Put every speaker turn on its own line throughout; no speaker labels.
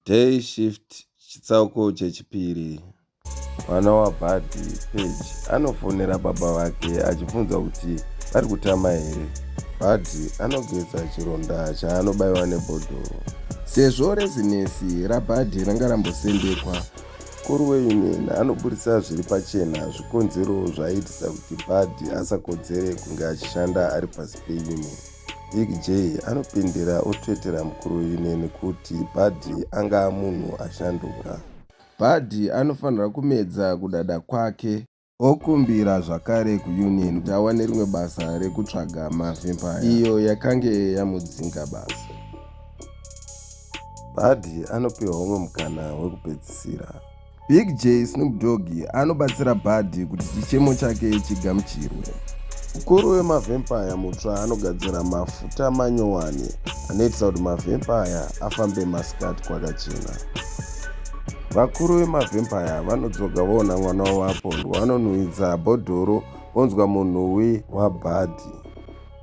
Day Shift Chitsauko Chechipiri Mwana waBhadhi, Page, anofonera baba vake achibvunza kuti vari kutama here. Bhadhi anogeza chironda chaanobaiwa nebhodhoro. Sezvo rezinesi raBhadhi ranga rambosendekwa, mukuru weunion anoburitsa zviri pachena zvikonzero zvaiitisa kuti Bhadhi asakodzere kunge achishanda ari pasi peunion. Big J anopindira otsvetera mukuru uyu neni kuti Buddy anga munhu ashanduka. Buddy anofanira kumedza kudada kwake. Okumbira zvakare kuUnion kuti awane rimwe basa rekutsvaga mavempire iyo yakange yamudzinga basa. Buddy anopiwa umwe mukana wekupedzisira. Big J Snoop Dogg anobatsira Buddy kuti chichemo chake chigamuchirwe. Mukuru wemavhempaya mutsva anogadzira mafuta manyowani anoitisa kuti mavhempaya afambe masikati kwakachena. Vakuru vemavhempaya vanodzoka voona mwana wavapondwa vanonhuhwidza bhodhoro vonzwa munhuwi waBhadhi.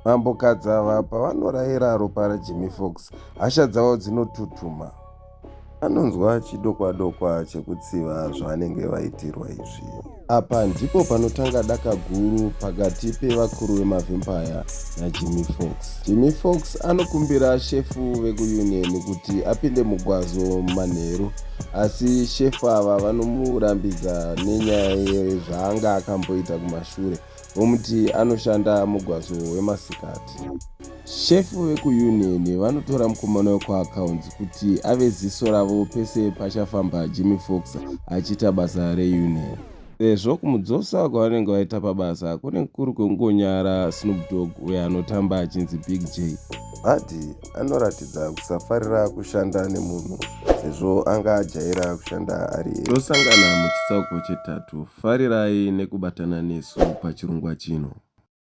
Mambo Kadzava pavanorayira ropa raJimmy Fox, hasha dzavo dzinotutuma. anonzwa chidokwadokwa chekutsiva zvavanenge vaitirwa izvi apa ndipo panotanga daka guru pakati pevakuru vemavempire najimmy fox jimmy fox anokumbira shefu vekuunion kuti apinde mugwazo manheru asi shefu ava vanomurambidza nenyaya yezvaanga akamboita kumashure vomuti anoshanda mugwazo wemasikati. Shefu vekuUnion vanotora mukomana wekuAccounts kuti ave ziso ravo pese pachafamba Jimmy Fox achiita basa reUnion sezvo kumudzosa kwavanenge vaita pabasa kunenge kuri kwekungonyara Snoop Dogg uyo anotamba achinzi Big J. Vati anoratidza kusafarira kushanda nemunhu sezvo anga ajaira kushanda ari ega. Tosangana muchitsauko chetatu. Farirai nekubatana nesu pachirongwa chino.